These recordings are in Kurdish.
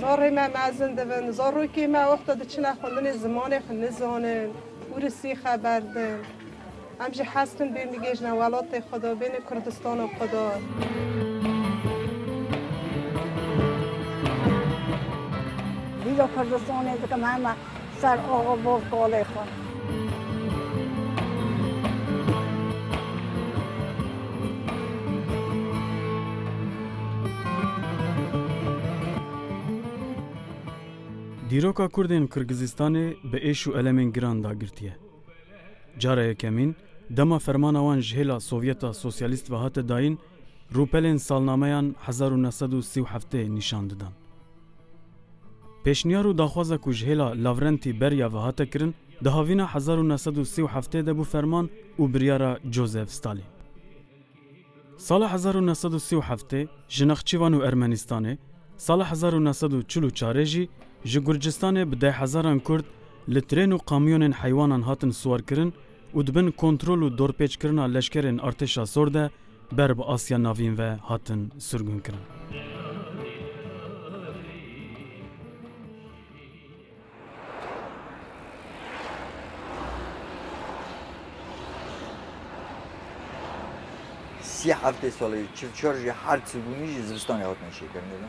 Zarê me mezin dibin, zarokên me wexta diçine xwendinê zimanê xwe nizanin û risî xeber din. Em jî hez dikin bên bigihîjine welatê xwe de, bêne Kurdistana xwe de. Dîdo Kurdistanê dikim hema Ser axa bol kalê xwe. Dîroka Kurdên Kirgizistanê bi êş û elemên giran da girtiye. Cara yekemîn, dema fermana wan ji hêla Sovyeta Sosyalîst ve hate dayîn, Rûpelên salnameyan hezar û neh sed û sî û heftê nîşan didan. Pêşniyar û daxwaza ku ji hêla Lavrentî Berya ve hate kirin di havîna hezar û neh sed û sî û heftê de bû ferman û biryara Joseph Stalin. Sala hezar û neh sed û sî û heftê ji Nexçîvan û Ermenistanê, sala hezar û neh sed û çil û çarê jî ji Gurcistanê bi dehhezaran Kurd li trên û kamyonên heywanan hatin siwarkirin û di bin kontrol û dorpêçkirina leşkerên Artêşa Sor de ber bi Asya Navîn ve hatin sirgûnkirin. Sî heftê solê çil çar jî her sirgûnî jî zivistanê hatine şêkirinê de.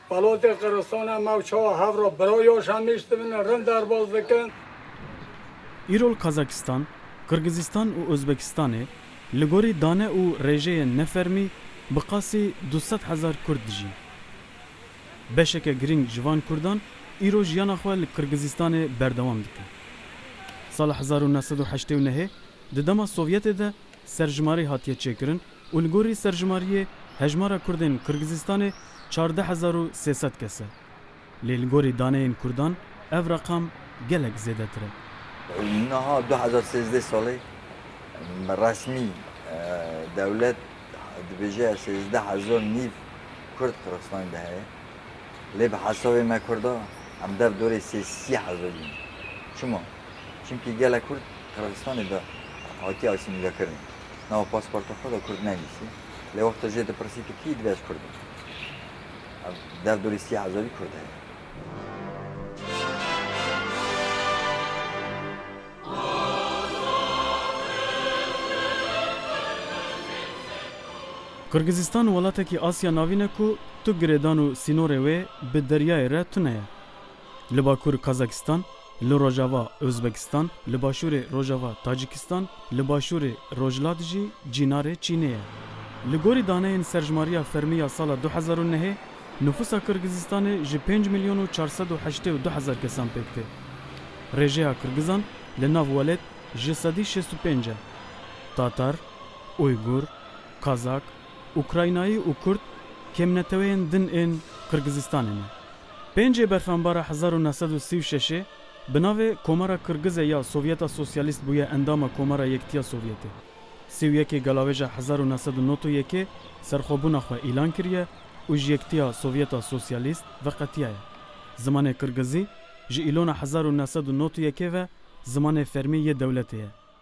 Balotê Qiristone ma û çawa hev ra bira ya Şemîş dibin û rind derbas dikin. Îro li Kazakistan, Qirgizistan û Ozbekistanê li gorî dane û rêjeyên nefermî bi qasî du sed hezar Kurd dijîn. Beşeke girîng ji van Kurdan îro jiyana xwe li Qirgizistanê berdewam dikin. Sala hezar û neh sed û heştê û nehê di dema Sovyetê de Serjimarî hatiye çêkirin û li gorî serjimariyê hejmara kurdên Qirgizistanê çardeh hezar û sê sed kes e. Lê li gorî daneyên kurdan ev reqam gelek zêdetir e. Niha du hezar û sêzdeh salê resmî dewlet dibêje sêzdeh hezar nîv kurd Qirgizistanê de heye. Lê bi hesabê me kurda em dev dorê sê sî hezarî ne. Çima? Çimkî gela Kurd Qirgizistanê de hatiye asîmîlekirin. Nava pasporta xwe de Kurd nenivîsî. Lê wexta jê dipirsî tu kî yî dibê ez Kurd im. Ev derdorê sî hezarî Kurd heye. Qirgizistan welatekî Asya Navîn e ku tu girêdan û sînorê wê bi deryayê re tune ye. li bakur Kazakistan, li rojava Ozbekistan, li başûrê rojava Tacikistan, li başûrê rojhilat jî cînarê Çînê ye. Li gorî daneyên serjmariya fermî ya sala du hezar û nehê, nifûsa Kirgizistanê ji pênc milyon û çar sed û heştê û du hezar kesan pêk tê. Rêjeya Kirgizan li nav welêt ji sedî şêst û pênc e. Tatar, Uygur, Kazak, Ukraynayî û Kurd kêmneteweyên din ên Kirgizistanê ne. Pêncê berxanbara hezar û neh sed û sî û şeşê bi navê Komara Kirgize ya Sovyeta Sosyalîst bûye endama Komara Yektiya Sovyetê. Sî û yekê Galawêja hezar û neh sed û nod û yekê serxwebûna xwe îlan kiriye û ji Yektiya Sovyeta Sosyalîst veqetiyaye. Zimanê Kirgizî ji îlona hezar û neh sed û nod û yekê ve zimanê fermî yê dewletê ye.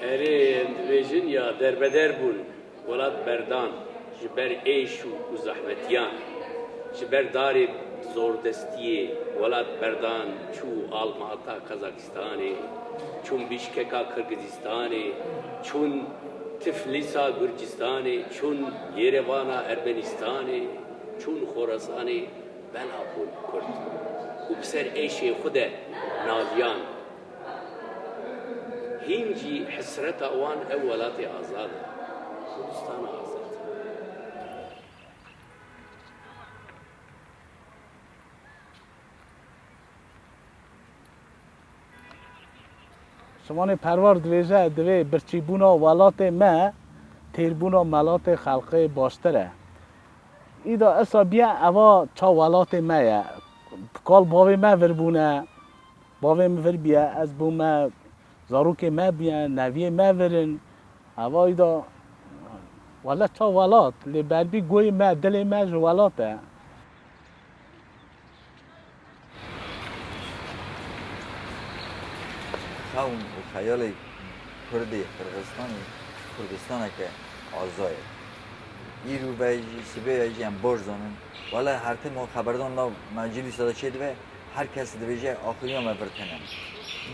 Erê em dibêjin ya derbeder bûn, welat berdan ji ber êş û zehmetiyan, ji ber darê zordestiyê welat berdan çû almata Kazakistanê, çûn Bîşkeka Kirgizîstanê, çûn Tiflîsa Gurcistanê, çûn Yêrevana Ermenîstanê, çûn Xorasanê, belav bûn kurd û bi ser êşê xwe de naviyan. Hîn jî hesreta wan ew welatê azad e, Kurdistana azad. Şivanê Perwar dibêje, Divê birçîbûna welatê me têrbûna melatê xelqê baştir e. Îda esa biya eva ça welatê me ye. Kal bavê me vir bûne. Bavê min vir bûye, ez bûm me, zarokê me bûye, neviyê me vir in. Hevayî de welat ta welat, lê berbî guhê me, dilê me ji welat e. Xewn û xeyalê Kurdê Qirxizistanê Kurdistaneke aza ye. Îro ve jî, sibê ve jî em baş zanin. Wele her tim xeberdan nav meclîsa de çêdibe, Her kes dibêje axûniya me vir tene.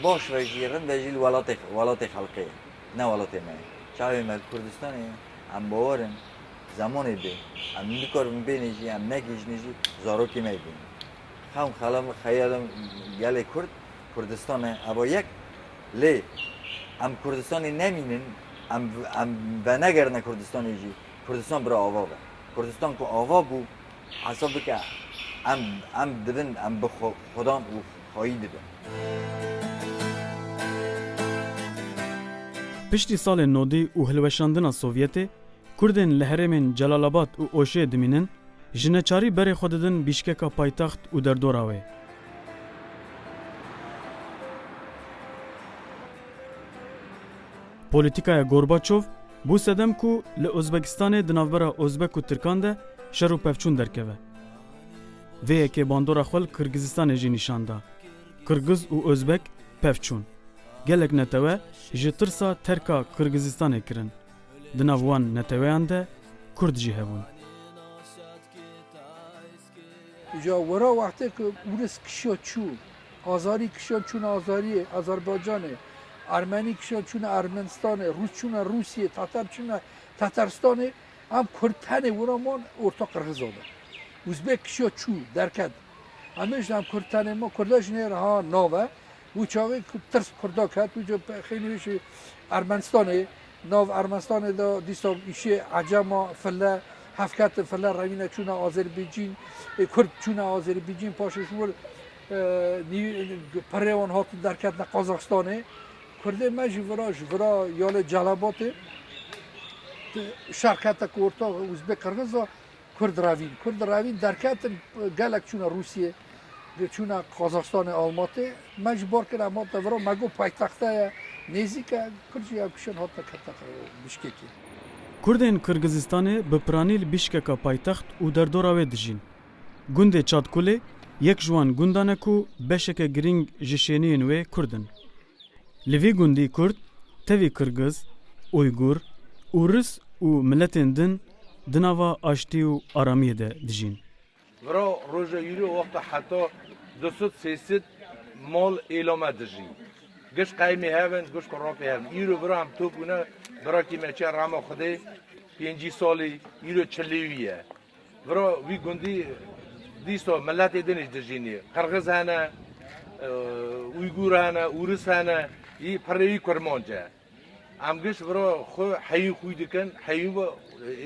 Baş ve jî, rind ve jî li welatê welatê xelkê ye. Ne welatê me ye. Çavê me li Kurdistanê ye. Em bawer in zemanê bê em nikarin bênê jî em negihîjinê jî zarokê me jî bêne. Xewn xela min xeya min gelê Kurd Kurdistan e eba yek. Lê em Kurdistanê nemînin em em venegerine Kurdistanê jî Kurdistan bira ava be. Kurdistan ku ava bû Hesab bike em em dibin em bi xwedan û xwayî dibin. Piştî salên nodî û hilweşandina Sovyetê, Kurdên li herêmên Celalabad û Oşê dimînin, ji neçarî berê xwe didin bîşkeka paytext û derdora wê. Polîtîkaya Gorbaçov bû sedem ku li Ozbekistanê di navbera Ozbek û Tirkan de şer û pevçûn derkeve. Vê yekê bandora xwe li Kirgizistanê jî nîşan da. Kirgiz û Ozbek pevçûn. Gelek netewe ji tirsa terka Kirgizistanê kirin. Di nav wan neteweyan de Kurd jî hebûn. Ja wera wextê ku Ûris kişiya çû azarî, kişiyan çûne azariyê, Azerbaycanê, Ermenî kişiyan çûne Ermenistanê, Rûs çûne Rûsiyê, Tatar çûne Tataristanê, em Kurd tenê wira ma orta Qirxizan e. Uzbek kişiya çû, derket. Em ê jî em Kurd tenê ma Kurda jî nê re ha nav e. Û çaxê ku tirs Kurda ket û xênî wê jî Ermenistanê, nav Ermenistanê de dîsa îşê Ecema, File, hevketin, File rewîne çûne Azêrbîcîn, Kurd çûne Azêrbîcîn, paşê ji wir pirê wan hatin derketina Qazaxistanê. Kurdê me jî vira ji vira ya lê Celabatê şer kete ku orta Uzbek-Qirgiz a. Kurd ravîn, Kurd ravîn derketin, gelek çûne Rûsyê, çûne Qazaxstanê, Almatê, me ji bar kira mata vira, me got paytexte ye, nêzîk e, Kurd jî ev kişên hatine ketin Bişkekê. Kurdên Qirgizistanê bi piranî li Bişkeka paytext û derdora wê dijîn. Gundê Çadkulê yek ji wan gundan e ku beşeke girîng ji şêniyên wê Kurd in. Li vî gundî kurd, tevî kirgiz, uygur û ris û miletên din di nava aştî û aramiyê de dijîn. Vira roja yûrî wexta heta du sed sê sed mal îlame dijî. Giş qeyimî hev in, giş ku rapê hev in. Îro vira hem to bûne, vira kî me çiya rehma Xwedê pêncî salî, îro çilî wî ye. Viro wî gundî dîso miletê din jî dijînî. Qirgiz hene, Uygûr hene, Ûris hene, yî pirrê wî kurmanc e. Em giş viro xwe heyîn xwî dikin, heyîn ve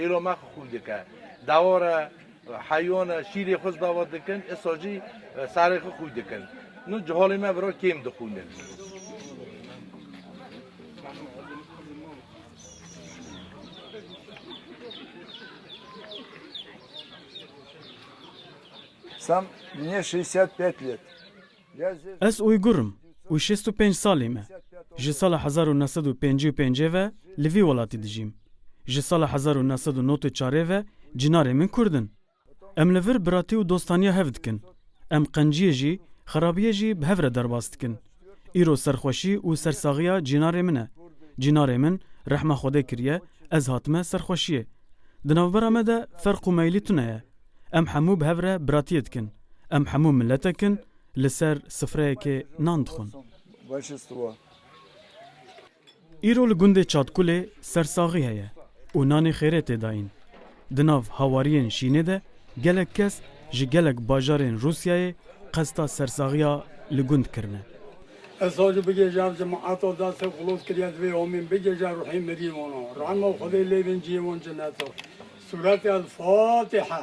êro me xwe xwî dike. Dawar e, heyon e, şîrê xwe ji dawar dikin, îsa jî serê xwe xwî dikin. Nû ciholê me viro kêm dixwînin. Ez Uygur im û şêst û pênc salî me. Ji sala hezar û neh sed û pêncî û pêncê ve li vî welatî dijîm. Ji sala hezar û neh sed û nod û çarê ve cinarê min kurd in. Em li vir biratî û dostaniya hev dikin. Em qenciyê jî, xerabiyê jî bi hev re derbas dikin. Îro serxweşî û sersaxiya cînarê min e. Cînarê min rehma Xwedê kiriye, ez hatime serxweşiyê. Di navbera me de ferq û meylî tune ye. Em hemû bi hev re biratiyê dikin. Em hemû miletek in, li ser sifreyekê nan dixwin. Îro li gundê Çadkulê sersaxî heye û nanê xêrê tê dayîn. Di nav hawariyên şînê de gelek kes ji gelek bajarên Rûsyayê qesta sersaxiya li gund kirine. Ez sazû bigêjam ji min eto da se xulot kiriye divê homîn bigêje ruhî mirî wono rehma xwedê lê vin ciyê won cineto sûretê el fatiha.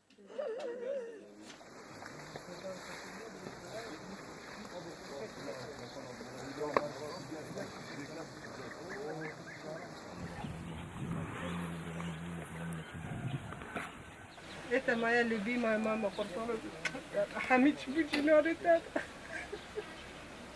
Etemaya li bî mama me qurban. Hemî çi bû cînarê te.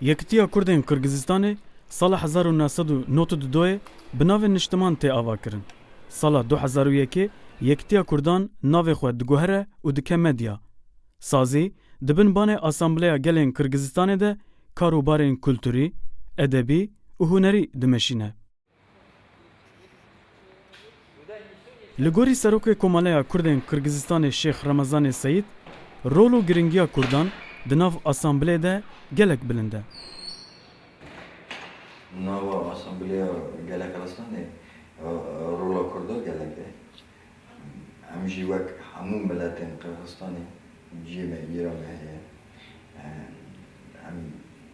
Yekitiya Kurdên Qirgizistanê sala hezar û neh sed û nod û du doyê bi navê niştiman tê avakirin. Sala du hezar û yekê yekitiya Kurdan navê xwe diguhere û dike medya. Sazî di bin banê Asambleya Gelên Qirgizistanê de kar û barên kulturî, edebî û hunerî dimeşîne. Li gorî Serokê Komeleya Kurdên Kirgizistanê Şêx Remezanê Seyîd, rol û girîngiya Kurdan di nav Asambleyê de gelek bilind e. Di nava Asamblêya Gelek Resanê rola Kurdan gelek e. Em jî wek hemû miletên Qirgizistanê ciyê me, îra me heye. Em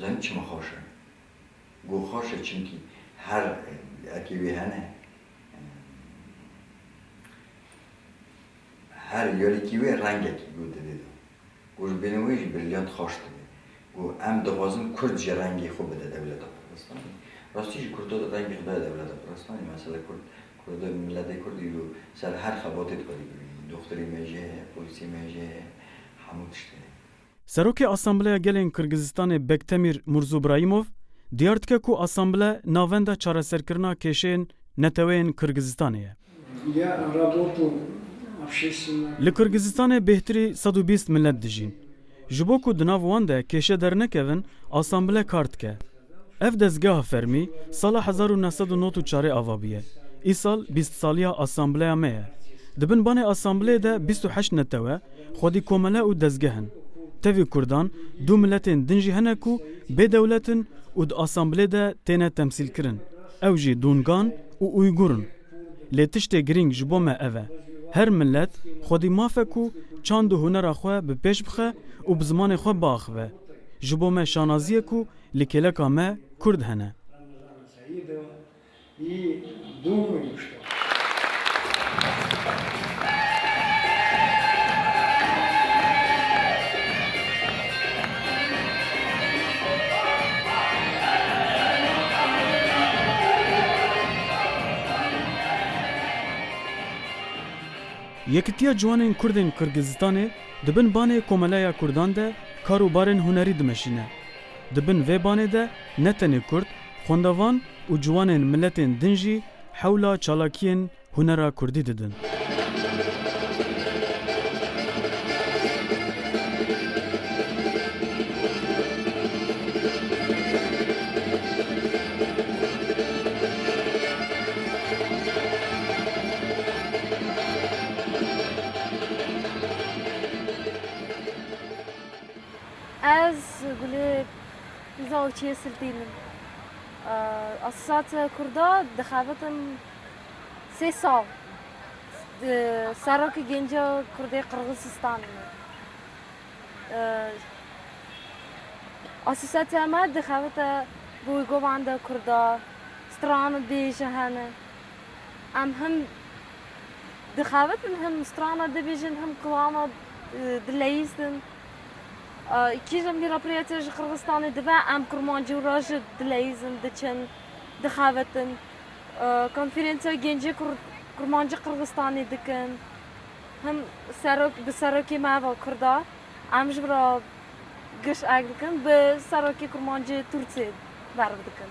Zanî çima xweş e? Got xweş e çimkî her ekê wê hene her yarîkî wê rengekî got divê de. Got ji bêhna wê jî brîlyant xweş dibe. Got em dixwazin kurd jî rengê xwe bide dewleta Kurdistanê. Rastî jî kurd rengê xwe daye dewleta Kurdistanê. Mesela kurd kurd miletê kurd îro ser her xebatê dikare bibîne. Doxturê me jî heye, polîsê me jî heye, hemû tişt heye. Serokê Asambleya Gelên Kirgizistanê Bektemîr Mûrzobraîmov diyar dike ku asamble navenda çareserkirina kêşeyên neteweyên Kirgizistanê ye. Li Kirgizistanê bêhtirî sed û bîst milet dijîn. Ji bo ku di nav wan de kêşe dernekevin, asamble kar dike. Ev dezgeha fermî sala hezar û neh sed û nod û çarê ava bûye. Îsal bîst saliya Assembleya me ye. Di bin banê Assembleyê de bîst û heşt netewe, xwedî komele û dezgeh in. Tevî Kurdan du miletên din jî hene ku bê dewlet in û di Assembleyê de têne temsîlkirin. Ew jî Dûngan û Ûygur in. Lê tiştê girîng ji bo me ev e, her milet xwedî maf e ku çand û hunera xwe bi pêş bixe û bi zimanê xwe biaxive. Ji bo me şanazî ye ku li kêleka me Kurd hene. Yekitiya Ciwanên Kurdên Qirgizistanê Di bin banê Komeleya Kurdan de kar û barên hunerî dimeşîne. Di bin vê banê de ne tenê kurd, xwendevan û ciwanên miletên din jî hewla çalakiyên hunera kurdî didin. Ez gulê pîza û çiyê siltîn im. Asîsate Kurda dixebitin sê sal. Serokê Gênca Kurdê Qirxizistanê me. Asîsate me dixebite bi wî govanda Kurda, stran û bêje hene. Em him dixebitin, him strana dibîjin, him klana dileyîzin. Kîjan bîra pirêya te ji Qirgizistanê dibe, em kurmancî û ra jî dileyîzin, diçin, dixebitin. Konferensiya Gencê Kurmancî Qirgizistanê dikin. Him serok bi serokê me va kurda em ji bira giş ek dikin, bi serokê kurmancê Tûrkê berv dikin.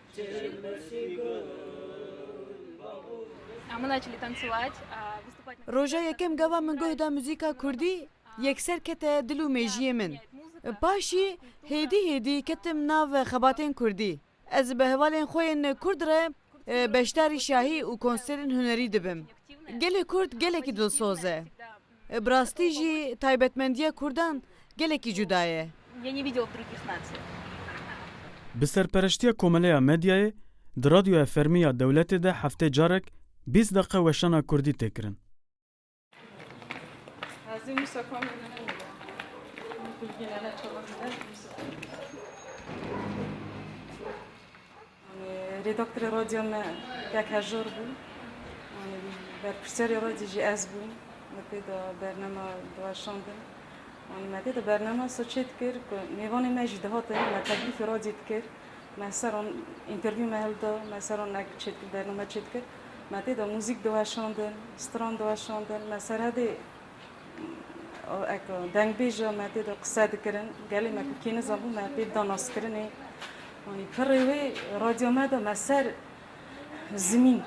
Roja yekem gava min guh da muzîka kurdî yekser kete dil û mêjiyê min. Paşî hêdî hêdî ketim nav xebatên kurdî. Ez bi hevalên xwe yên kurd re beşdarî şahî û konserên hunerî dibim. Gelê kurd gelekî dilsoz e. Bi rastî jî taybetmendiya kurdan gelekî cuda ye. Bi serpereştiya Komeleya Medyayê di Radyoya Fermî ya Dewletê de heftê carek bîst deqe weşana kurdî tê kirin. Rêdaktorê radyoya me tek hejar bû. Berpirsiyarê radyo jî ez bûm. Me tê de bername diweşandin. Me tê de bername soçê dikir ku mêvanê me jî dihatin, me teklîfê radyê dikir. Me li ser wan întervîw me hilda, me li ser wan nek çêdikir bername çêdikir. Me tê de muzîk diweşandin, stran diweşandin. Me serhedê. Eko dengbêja me tê de qise dikirin, gelê me ku kê nizanbû me pê dida naskirinê. Anî pirrê wê radyo me de me ser zimîn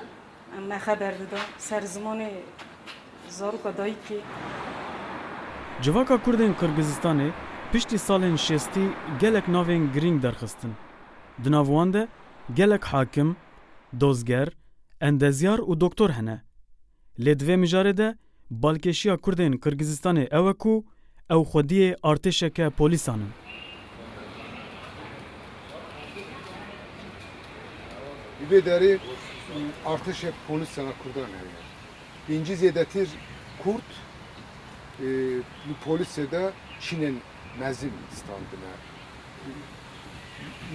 em me xeber dida, ser zimanê zaroka dayîkê. Civaka kurdên Qirgizistanê piştî salên şêstî gelek navên girîng derxistin. Di nav wan de gelek hakim, dozger, endezyar û doktor hene. Lê di vê mijarê de Balkêşiya Kurdên Qirgizistanê ew e ku ew xwediyê artêşeke polîsan in. Li vê derê artêşek polîsan a Kurdan heye. Pêncî zêdetir Kurd li polîsê de çînên mezin standine.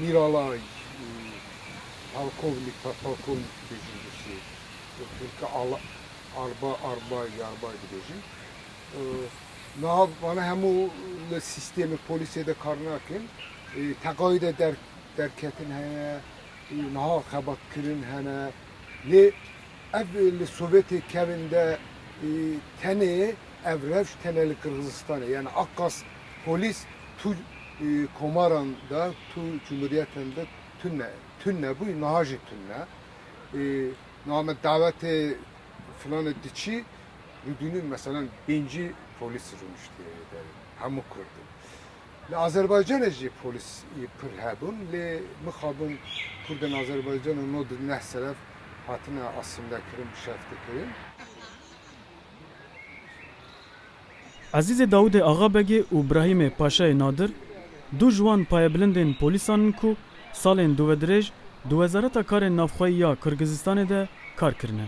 Mîralay Polkovnik, Podpolkovnik dibêjin Rûsî, Turki Ala. Arba, Arbay, Yarbay dibêjin. Niha vana hemû li sîstemê polîsê de kar nakin. Teqayê de der derketin hene, niha xebatkirin hene. Lê ev li Sovyetê kevin de tenê ev rewş tenê li Qirgizistanê. Yani aqas polîs tu komaran de, tu cumhuriyeten de tune tune bû, niha jî tune. Niha me dawetê filanê tu çi? Min bînin meselen pêncî polîs rûniştiye lê derê. Hemû kurd in. Li Azerbaycanê jî polîs pir hebûn lê mixabin kurdên Azerbaycana no di neh seref hatine asîmlekirin, şeftekirin. Ezîzê Dawûdê Axabegê û Brahîmê Paşayê Nadir, du ji wan payebilindên polîsan in ku salên duvedirêj di Wezareta Karên Navxweyî ya Kirgizistanê de kar kirine.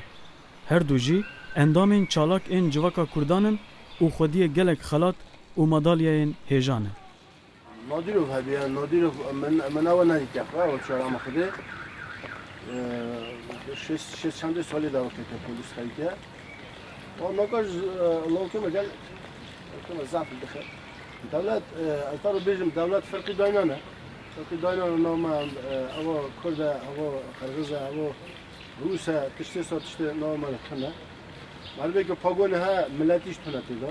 Her du jî endamên çalak ên civaka Kurdan in û xwediyê gelek xelat û madalyeyên hêja ne. Nadîrov hevîya Nadîrov min min awe nayî teqre awe çara min xidê şêst çendê salê de wekte te polîs xeyî te wa maka ji lawke me gel kema zaf dixe dewlet ez taro bêjim dewlet firqî dayna ne firqî dayna ne nav me awa kurd e awa qirgiz e awa rûs e tiştê sa tiştê nav me tune Merivê ke pagone he miletî ji tune têda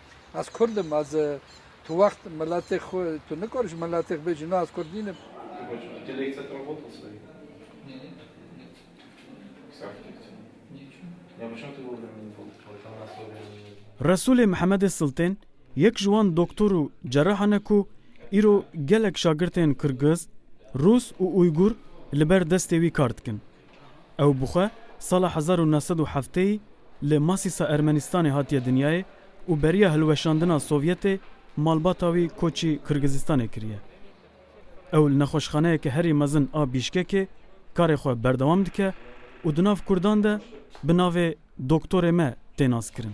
Ez kurd im, ez tu wext miletê xwe tu nikar ji miletê xwe bêjî na ez kurd nînim. Resûlê Mihemedê Siltên yek ji wan doktor û cerahan e ku îro gelek şagirtên kirgiz, rûs û uygur li ber destê wî kar dikin. Ew bi xwe sala hezar û neh sed û hefteyî li Masîsa Ermenîstanê hatiye dinyayê û beriya hilweşandina Sovyetê malbata wî koçî Kirgizistanê kiriye. Ew li nexweşxaneyeke herî mezin a Bîşkekê karê xwe berdewam dike û di nav kurdan de bi navê Doktorê me tê naskirin.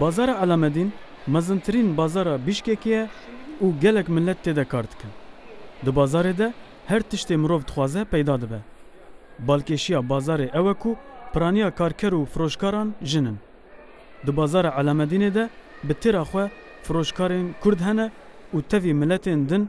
Bazara Elamedîn mezintirîn bazara Bîşkekê ye û gelek milet tê de kar dikin. Di bazarê de her tiştê mirov dixwaze peyda dibe. Balkêşiya bazarê ew e ku piraniya karker û firoşkaran jin in. Di bazara Elamedînê de bi têra xwe firoşkarên kurd hene û tevî miletên din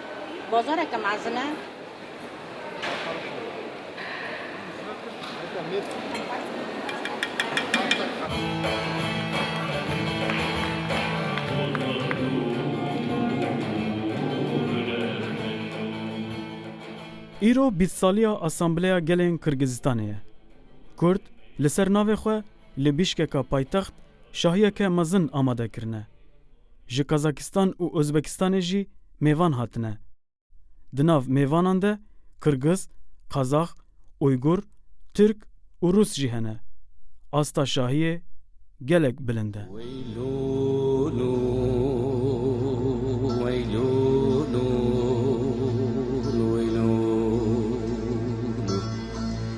Bazareke mezin e. Îro bîst saliya Asambleya Gelên Kirgizistanê ye. Kurd li ser navê xwe Li Bîşkeka paytext şahiyeke mezin amade kirine. Ji Kazakistan û Ozbekistanê jî mêvan hatine. Di nav mêvanan de Kirgiz, Kazax, Uygur, Tirk û Rûs jî hene. Asta şahiyê gelek bilind e.